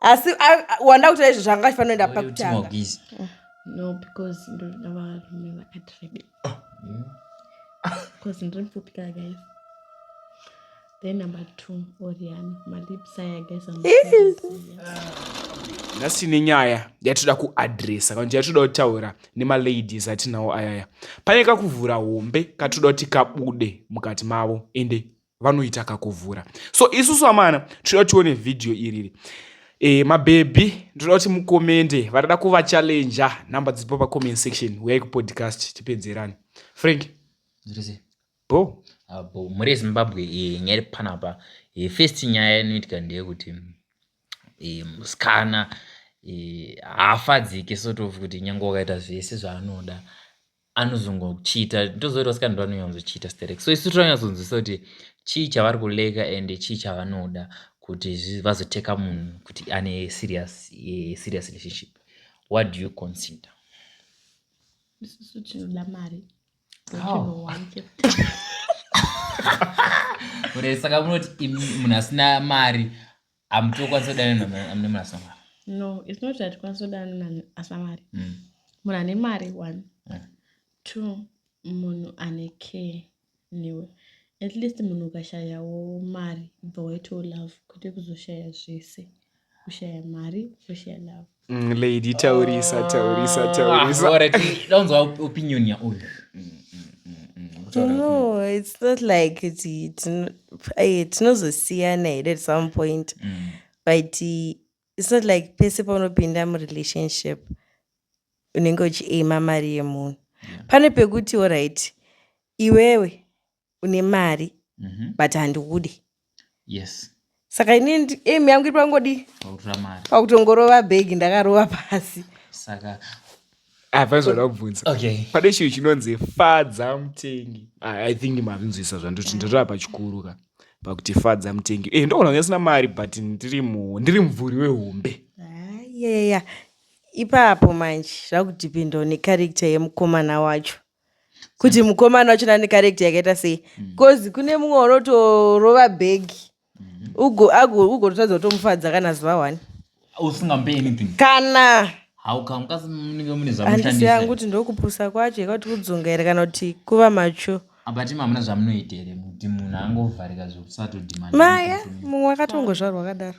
asi wanda kutaura izvo zvanga chifanira kuenda pakutanga no because ndoda varume vakati rebe because ndiri mupfupi ka guys then number two orian malips aya guys nhasi nenyaya yatinoda kuadresa kana kuti yatinoda kutaura nemaladies atinawo ayaya pane kakuvhura hombe katinoda kuti kabude mukati mavo ende vanoita kakuvhura so isusu amana tinoda tione vhidhiyo iriri e, mabhebhi ndinoda kuti mukomende vanoda kuvachallenja number dziripo pacomment section uyai kupodcast tipedzerani frank bo ah, bo muri zimbabwe eh, nyaya iri panapa eh, first nyaya inoitika ndeyekuti musikana haafadzike sort of kuti nyange wakaita zvese zvaanoda anozongochiita ndozoita vasikana ndovanonyatsochiita sterek so isu tonyatsonzwisa kuti chii chavari kuleka and chii chavanoda kuti vazoteka munhu kuti ane serious eh, serious relationship what do you consider isusu tinoda mari ure saka munoti munhu asina mari Amti okwanisa kudana nani amne mwana asina mari. No, it's not that kwanisa kudana nani asina mari. Mm. Munhu ane mari one. Mm. Two, munhu ane care newe. At least munhu ukashayawo mari ibva waitawo love kwete kuzoshaya zvese. Kushaya mari, kushaya love. Mm, lady taurisa taurisa ah, taurisaunzwa ah, opinion yauyu no it's not like tinozosiyana here at some point mm. but it's not like pese paunopinda murelationship unenge uchiaima mari yemunhu pane pekuti orit iwewe une mari mhm. but handiude yes saka ini aim yangu iri pangodi pakutongorova bhegi ndakarova pasi saka hapaizoda kubvunza pane chinhu chinonzi fadza mutengi ah, i think mavinzwisa zvandoti ndatova pachikuru ka pakuti fadza mutengi e eh, ndoona kunge sina mari but ndiri mubvuri wehombe yeya ipapo manje zvakudhipindawo necharakter yemukomana wacho kuti mukomana wachona ane karekta yakaita sei bcause hmm. kune mumwe unotorova bhegi hmm. ugototadza kutomufadza kana zuva one usingamupe anything kana handisi yangu kuti ndokupusa kwacho yekauti kudzunga here kana kuti kuva macho abati mamuna zvamunoita here kuti munhu angovharika zvekusatodimaya mumwe akatongozvarwa akadaro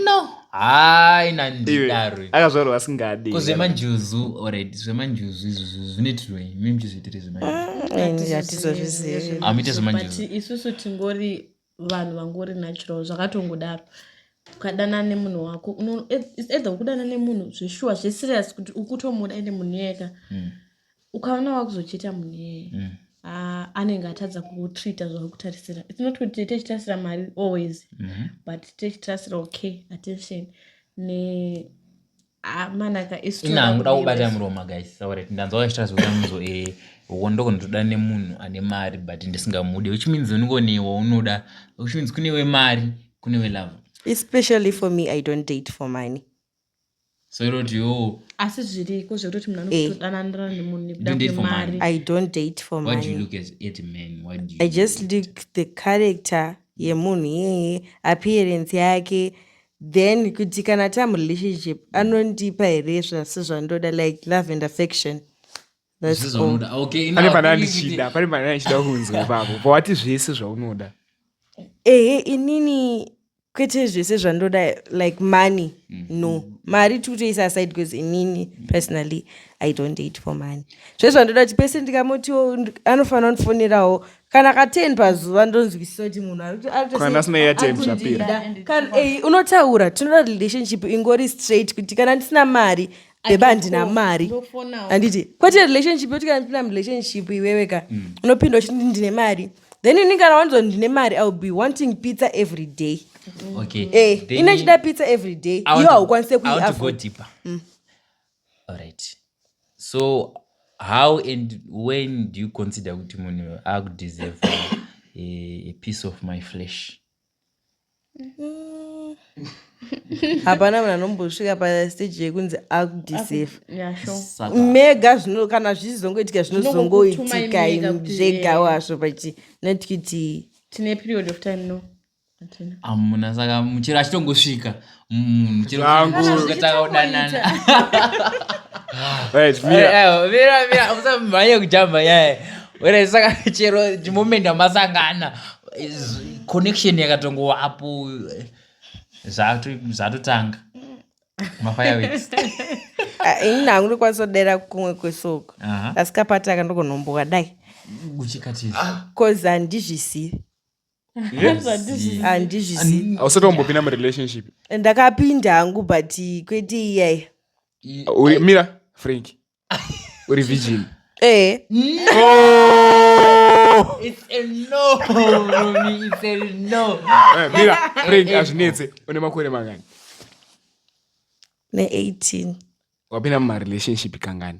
no hayi nandidaro akazvarwa asingadi kuzvemanjuzu orit zvemanjuzu izvozvo zvinoitirwei mi muchizviitire zvemanjuzuatizozvizivi amite zvemanjuzu isusu tingori vanhu vangori natural zvakatongodaro ukadanana nemunhu wako either ukudanana nemunhu zveshuwa zveserious kuti ukutomuda ende munhu iyeka mm. ukaona wakuzocheta munhu iyeye mm. uh, anenge atadza kutreata zvawakutarisira its not kuti techitrasira mari always mm -hmm. but techitrasira okay attention ne ah, manaka isinanguda kubata muroma guys sauret ndanzwa wachita zvokuamuzo e eh, uko ndoko ndotoda nemunhu ane mari but ndisingamude which means uniko newo unoda which means kune wemari kune welove especially for me i don't date for money soiroti yoo asi zviriko zvekutoti munhu Eh. anotodananira nemunhu nekuda Don't date for kwemari money. i don't date for why do you money look at, at men why do you i just look at- look the character yemunhu iyeye appearance yake then kuti kana tamu relationship anondipa here zvasi zvandoda like love and affection That's Zvese all. zvaunoda. Ah, Okay, pane now pane tell me kuti- andichida pane pane andichida kunzwa ipapo pawati zvese zvaunoda ehe inini kwete zvese zvandoda like money no mari tiri kutoisa aside because inini personally i don't date for money zve zvandoda kuti pese ndikamotiwo nd- anofanira kundifonerawo kana ka 10 pazuva ndonzwisisa kuti munhu ari kuto- ari kuto- Kana asina airtime ari kundida. zvapera. Kana- eh, unotaura tinoda relationship ingori straight kuti kana ndisina mari bheba handina mari handiti kwete relationship yoti kana ndipinda murelationship iwewe ka mm. unopinda uchiti ndine mari then ini kana wanzwa ndine mari iwill be wanting pizza every day okay. hey, eh, ine ndichida pizza every day iyo haukwanise kuiafford mm. alright so how and when do you consider kuti munhu akudeserve a, a piece of my flesh hapana munhu anombosvika pasteji yekunzi akudisefa mega zvino kana zvichizongoitika zvinozongoitika zvega wazvo pachi not kuti tine period of time no amuna saka muchero achitongosvika Mm, chero Zvangu. kuti zvikatanga kudanana. Right, Eh, mira. eh, mira, mira, musamhanye kujamba nyaya. Wena, saka chero moment amasangana is- connection yakatongovapo eh, zvato- zvatotanga mafireworks Ah, ini hangu ndikwanisa kudera kumwe kwesoko Aha. asi kapataka ndogonombowa dai uchikatizva bcause handizvisivi handizvizivi hausati wambopinda murelationship ndakapinda hangu but kwete iyaya Uri- mira frank uri virgin ee It's a no, Romy. It's a no. Eh, mira frank azvinetse une makore mangani ne-18 wapinda mumarelationship kangani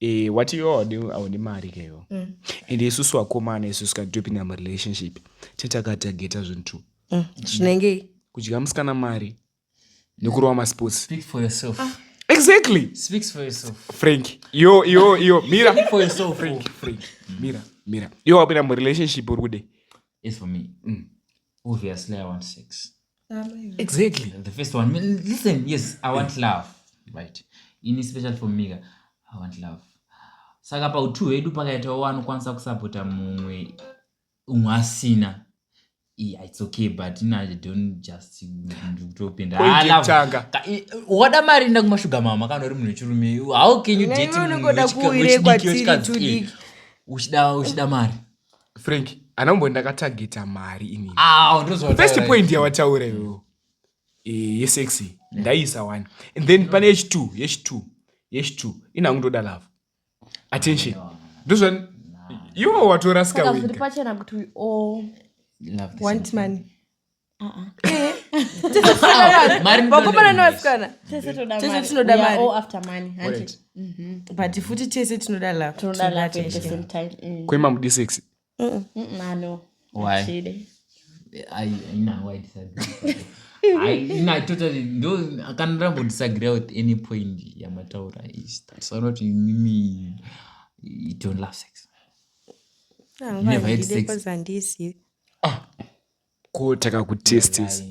Eh, wati iwe haudi- haudi mari ka iwe Mm. ende isusu vakomana isusu kana topinda murelationship tinenge takatageta zvinhu two Mm, zvinenge kudya musikana mari nekurova masports Speak for yourself. exactly Speaks for yourself. frank yo yo yo mira Speak for yourself. frank frank mira mira iwe wapinda murelationship uri kude As for me, obviously I want sex. exactly the first one listen yes i want love right ini special for mika i want love saka pautu hwedu pakaitawo wanokwanisa kusapota mumwe umwe asina yeah, it's okay but no, I don't just ndikutopinda wada mari nda kumashuga mama kana uri munhu wechirume how can you date uchida uchida mari frank ana kumbo ndakatageta mari ini Ah, ndozotaura first izvi. point yawataura iwewo Eh, yesexy ndaiisa one and then pane yechitwo yechitwo yechitwo ina hangu ndoda love attention ndozva iwo watorasika saka zviri wega pachena kuti we all Love this want money vakomana nevasikana tese tinoda maribut futi tese tinoda lovekwema mudi sex kana ndambodisagree with any point yamataura is that so not mimi you don't love sex ah, you never had sex ah. ko takakutestis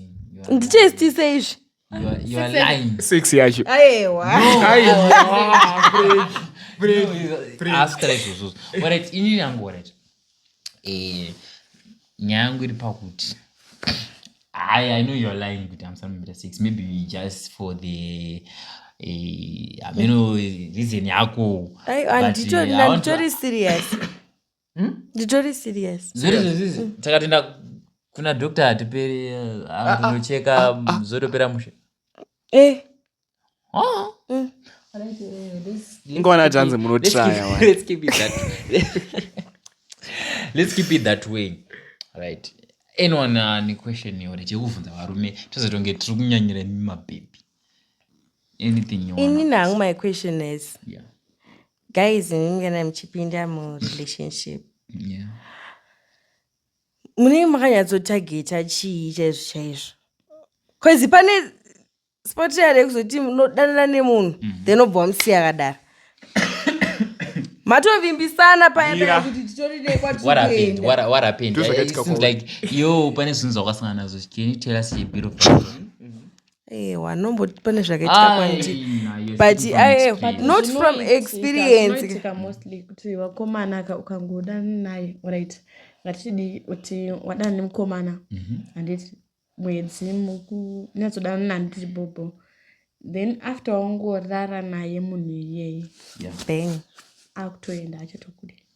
nditestise izvi sex yacho inini yangu orit eh, nyaya yangu iri pakuti I, I know you're lying with I'm something better six. Maybe we just for the uh, I mean, reason yako. I, and but, uh, I want to, serious. Hmm? nditori serious zviri zvezvizvi hmm. takatenda kuna doctor hatiperi anocheka eh, ah, ah, ah, zotopera mushe eh oh. mm. ingona tanzi munotraya let's keep it that let's keep it that way right anyone ane uh, question yore chekuvhunza varume tozotonge tiri kunyanyira imi mabhebhi anything you ini nangu my question is yeah guys imimi kana muchipinda murelationship yeah. munenge makanyatsotageta chii chaizvo chaizvo bcause pane spotia rekuzoti munodanana nemunhu mm -hmm. then obva wamusiya akadaro matovimbisana payakuti titorinekwatikuendawahapenedlike yo pane zvinhu zvakasangana nazvo can you tell us a bit of Ewa, anomboti pane zvakaitika kwandi Ai, nayo but speaking from aye experience. not from Zvinoitika- experience zvinoitika mostly kuti vakomana ka- ukangoda naye right ngatidii kuti wadana nemukomana handiti mwedzi muku- nyatsodanana naye handiti bhobho then after wangorara naye munhu iyeye Yeah. bang akutoenda achatokude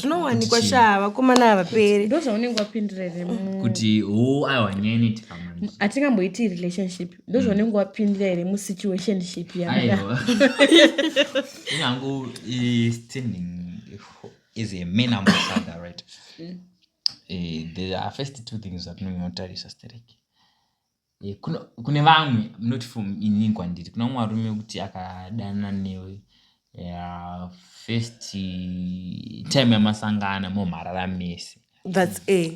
zvinowanikwa shaa vakomana havaperi ndozvaunenge wapindirere kuti ho aiwa nyenit hatingamboiti relationship ndozvaunenge mm. wapindira here musituationship yaiwa inyangu standing is a man ambassador right mm. eh, there are first two things zvatinonge notarisa stereki Eh, kune vamwe not for ini kwandiri kuna mumwe arume kuti akadana newe eh, first time yamasangana momharara mese that's a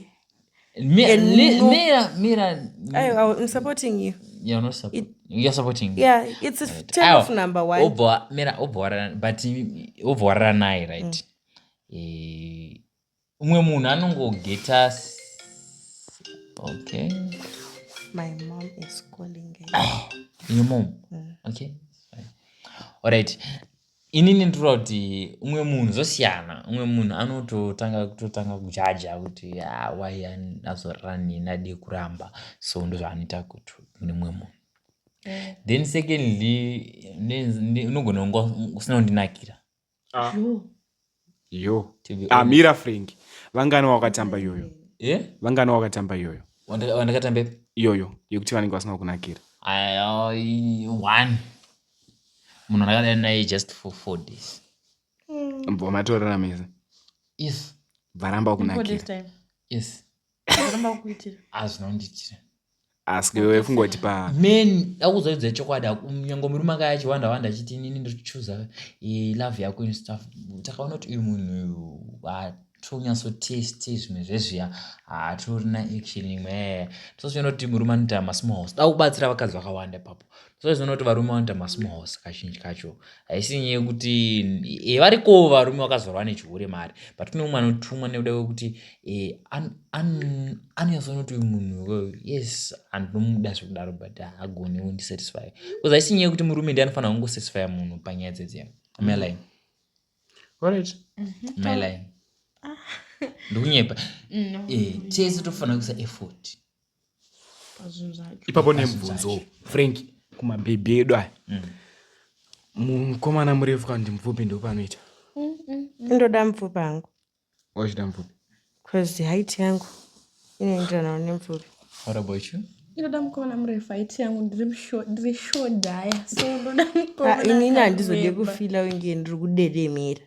obva warara naye right mm. eh, umwe munhu anongogeta okay my mom is calling ah, your mom mm. okay alright inini ndinoda kuti umwe munhu zvosiyana umwe munhu anototanga kutotanga kujaja kuti ah, why azorara neni adii kuramba so ndozvaanoita kuti kune umwe munhu mm. then secondly unogona kunga usina kundinakira Ah. Yo. yo To be amira ah, frank vangani wakatamba iyoyo Eh? vangani wakatamba iyoyo Wandaka- wandakatamba ipi? iyoyo yekuti vanenge vasina kukunakira Ah, i- one munhu andakadana naye just for four days bva matorana mese yes varamba Before this kukunakira time. yes askefungoti pa men akuzoidza chokwadi nyange murume anga yachiwanda wanda achiti inini ndiri kuchuza eh, love yako in stuff takaona kuti uyu munhu uyu tonyasoteste zvimwe zvezviya hatorina action imwe tozviona kuti murume anoita masmall house da kubatsira vakadzi vakawanda ipapo so izvona kuti varume vanoita masmos kazhinji kacho haisi nyaya yekuti e, variko varume vakazorwa nechihure mari but kune umwe anotumwa nekuda kwekuti e, anonyasonoti uyu munhu yes andinomuda zvekudaro but hagoni undisatisfy bcause haisi nyaya yekuti murume ndi anofanira kungosatisfya munhu panyaya dzedze maline orit maline ndokunyepa tese tofanira kuisa effort mm -hmm. ipapo nemubvunzo frank kumabhebhi edu aya mm. mukomana murefu kana kuti mupfupi ndopanoita ndoda mupfupi hangu wachida mupfupi bcause haiti yangu inoenderanawo nemupfupi what about you inoda mukomana murefu haiti yangu ndiri shodhaya so ndoda mukomana ah, inini handizode kufila unge ndiri kuderemera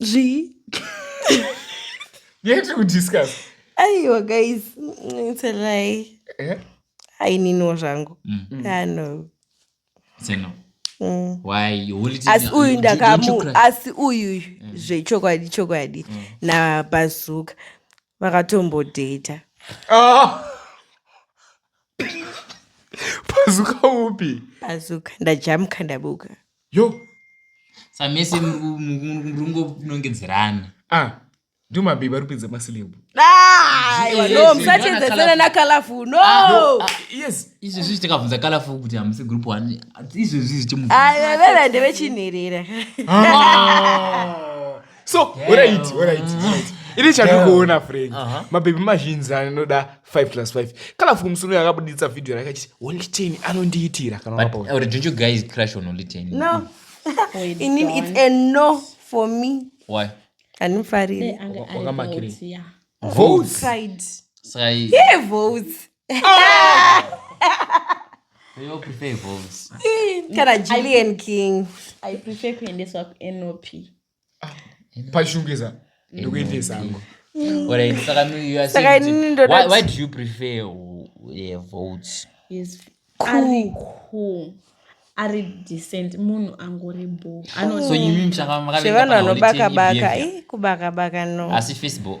zvii yet to discuss aiwa guys it's a lie eh? aininiwo zvangu mm. mm. ano seno mm. asi uyu ndakamu asi uyu mm. zvechokwadi chokwadi mm. nabazuka vakatombodheta oh. bazuka upi bazuka ndajamuka ndabuka yo samese murungounongedzerana ah ndiwo mabhebhi ari kupedza masilebhu no musachedzesana nakalaful no yes izvi zvichi takabvunza kalaful kuti hamusi group one izvi zvichi veveve ndevechinherera so horaiti horaiti ini chandikuona frenk uh-huh. mabhebhi mazhinji anoda 5 plus 5 kana fuku musuno yakabuditsa vhidhiyo rake achiti only ten anondiitira kanaandimfaririvotes kana julian king i prefer kuendeswa kunop pashungeza ndikuendesa angu Alright, saka mi- you are Saka saying kuti- inini ndoda why- kuti- why do you prefer uh, uh, votes Yes. ari cool ari decent munhu angori bo so imi mshaka zvevanhu vanobaka baka ih kubaka baka no asi facebook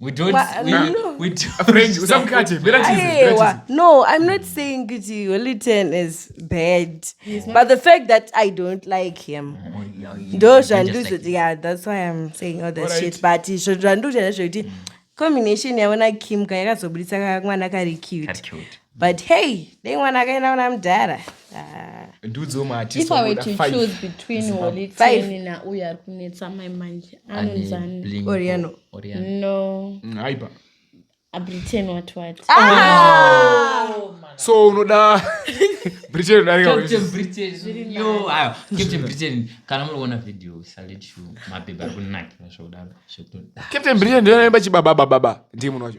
we don't Wha- we, no. we don't Friend, usamukate, mira tize, mira tize. Ayewa. No, I'm not saying Kuti Wellington is bad. But the fact that I don't like him. Oh, yeah, you- ndo you just like zvandizo yeah that's why i'm saying all that Alright. shit but izvo zvandiuchana zvekuti combination yaona kim ka yakazobudisa ka mwana kari That's cute cute. but hey dai mwana akaenda kuna mudhara ah. ndiudzo maatiiwetween holiteni nauyo ari kunetsa mai manje anonzani oriano no mm, aipa abritain wati wati ah! oh, so unoda britain udarikacaptain britain kana munoona video salet mabhebha ari kunakira zvakudaro captain britain ndiyo naimba chibababababa ndii munhu wacho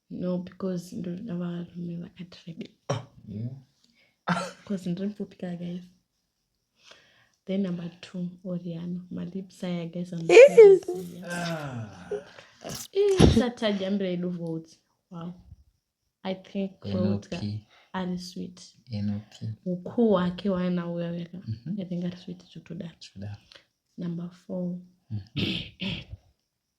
no because ndoda varume vakati rebe ah, because ndiri mupfupi ka guys then number two oriano malips aya guys satadya mbira yedu votes wow i think votes ari sweet ukuu hwake waana uya weka mhm. i think ari sweet zvekutodaro number four mm -hmm.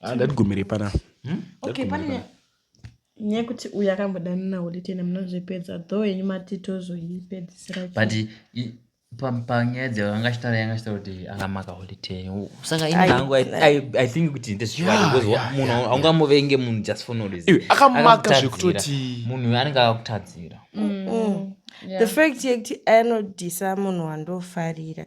Ah, ndatigumire pana hmm? okay pane nekuti uyu akambodanana holitene munozvipedza dho henyu mati tozoipedzisira but panyaya dzavanga achitaura yanga achitaura kuti akamaka holitene saka ini hangu i think kuti ndezvikwadi because munhu haungamuvenge munhu just for no reason akamaka zvekutoti munhu anenge akakutadzira mm. mm. the fact yekuti anodhisa munhu wandofarira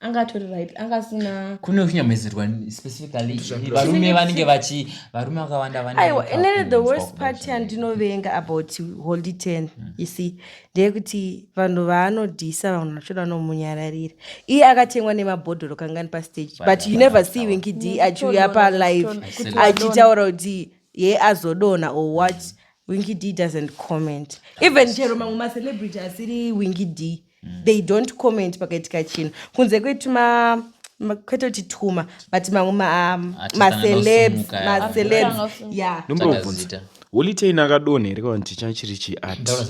anga atori right anga asina kune kunyamezerwa specifically varume vanenge vachi varume vakawanda aiwa inene the worst part yandinovenga about holy ten hmm. you see ndeyekuti vanhu vaanodhisa vanhu vachoda vanomunyararira iye akatengwa nemabhodhoro kangani pastage but you never see winky d achiuya palive achitaura kuti ye azodona or what winky d doesn't comment even chero mamwe macelebrity asiri winky d mm. they don't comment pakaitika chinhu kunze kwetuma kwete kuti tuma but mamwe macelebs macelebs ya ndomborovhunza holitein akadonha here kana kuti changa chiri chiadhasiyana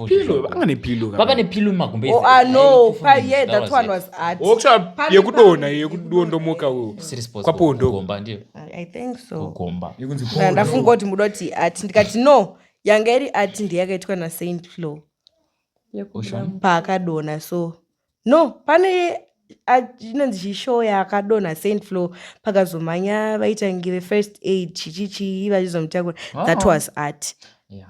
Pillow, vanga nepillow vava nepillow mumakumbo Oh, I know. Pa- yeah, that one was art. Workshop Pambi, yekudonha pambi. yekudondomoka wo. Kwapondo. kugomba ndiyo I- I think so. kugomba Yekunzi Na- pondo. ndafunga kuti muda kuti art ndikati no yanga iri art ndeyakaitwa nasaint flow Ocean. paakadonha so no pane a- inonzi chishow yaakadonha saint flow pakazomhanya vaitangive first aid chichichii vachizomutakura that was art Yeah.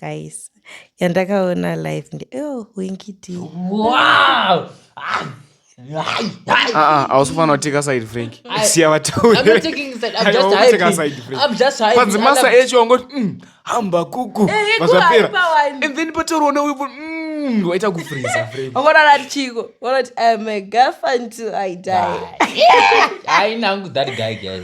guys yandakaona live ndi oh wingiti wow hausifanira kuteka side frank siya vatauripanzi masa echo wangoti mm, hamba kuku eh, eh, vazvapera and then patoriwa neuipo mm, waita kufriza frankwangorara tichiko wanoti im a girlfriend till i die ainangu that guy guys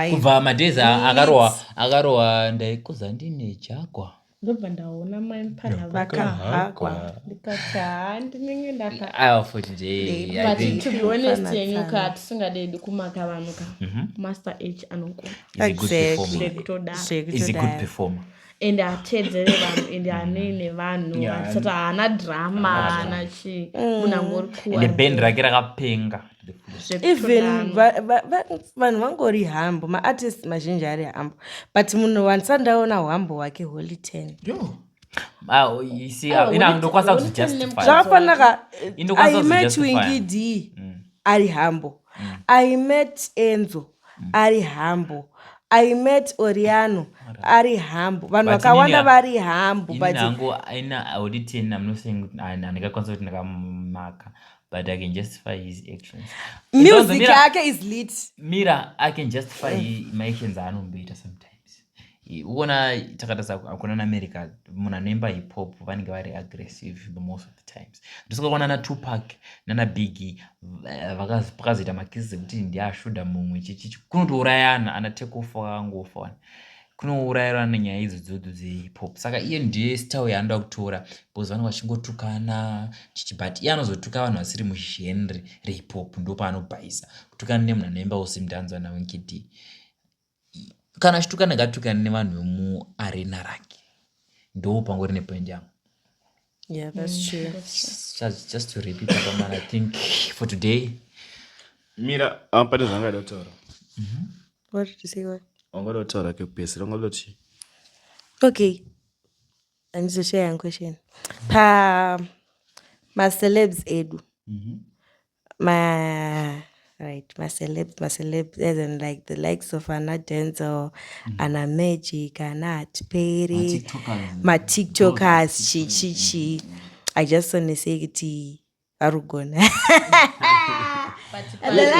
kubva madays akarohwa akarohwa ndaikuza ndine jakwa ndobva ndaona mai mpana vakahakwa ndikati haa ndinenge ndakaatitionestenyuka hatisingadedi kumaka vanhu ka mhm. master h anokona and hateedzere vanhu and hanei nevanhu Yeah, handisati haana drama haana chii munhu angori ende band kuwa rake rakapenga to the fullest. even zvekutonama va- va- va- vanhu vangori hambo maartist mazhinji ari hambo but munhu wandisati ndaona hwambo hwake holy ten Yo. Ah, oh, you see, Ah, ah, ina Holy- ndokwanisa Holy Ten kuzvijustify nemukadzi. zvakafanaka Indokwanisa i met kuzvijustify. wingidi ari hambo i met enzo ari humble i met oriano ari humble vanhu But vakawanda nini- vari humble ini but nangu aina haudi ten i'm not saying kuti ah, handikakwanisa kuti ndakamaka but i can justify his actions It doesn't music mean- yake is lit mira i can justify he- my actions aanomboita sometimes Uona takatarisa kuna naamerica munhu anoimba hip hop vanenge vari aggressive the most of the times ndosakaona natupac nanabiggie pakazoita makisi dzekuti ndiashuda mumwe chichichi kunotourayana ana takeoff vakangofa wani kunourayirwa nenyaya idzo dzodo dzehip hop saka iye ndiye style yaanoda kutora because vanenge vachingotukana chichi but iye anozotuka vanhu vasiri mugenre rehip hop ndopaanobhaisa kutukana nemunhu anoimba usimdanzwa nawenkidi kana achitukana ngaatukane nevanhu vemuarena rake ndoo pangori nepoint yangu yeah that's mm, true just, just to repeat apaman i think for today mira ah, pane zvangaida kutaura mhm. what did you say what wangaida kutaura kekupesera wangaida kuti okay andizoshaya yangu question pa macelebs edu mm -hmm ma right maceleb maceleb as in like the likes of ana denzel mm. ana magic ana hatiperi matiktokers chichichi mm. i just wanna say kuti vari kugona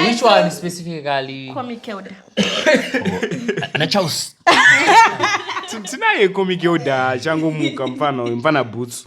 Which one specifically? Comic Elder. Ana Charles. Tinaye Comic Elder changomuka mfana mfana boots.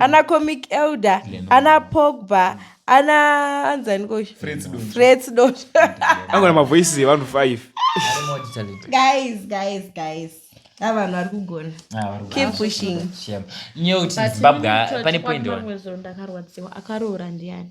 ana mm. comic elder ana pogba ana anzani kofredsdot angona mavoices evanhu five guys guys guys avanhu vari kugona ah, keep pushing nyeuti zimbabwe pane poindakarwadziwa akaroora ndiani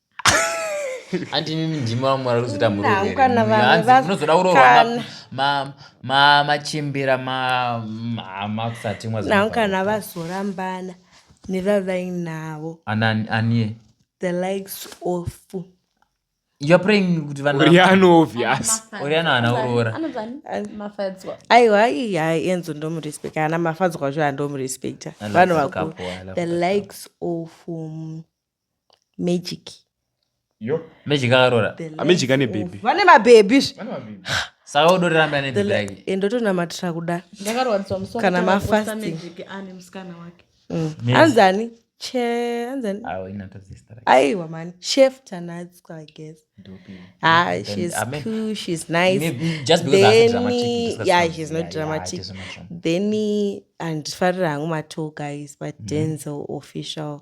hanti imimi ndimi vamwe vari kuzoita muroveremunozoda kuroorwa machimbira makusatimwa nau kana vazorambana nevavainavo anie the likes of you're praying kuti vanoriano obvious oriano haana kuroora aiwa iya enzo ndomurespecta ana mafadzwa zvo andomurespecta vanhu vakuru the likes of um, magic magic akarora magic ane baby vane mabhebhi saka udoriramba ane baby yake eh, ndotonamatira kuda kana mafasting mm. anzani che anzani aiwa mani chef tanatska i guess ah she's I mean, cool she's nice maybe, just because then, dramatic, yeah she's not yeah, dramatic yeah, then andifarira hangu matwo guys but mm. denzel official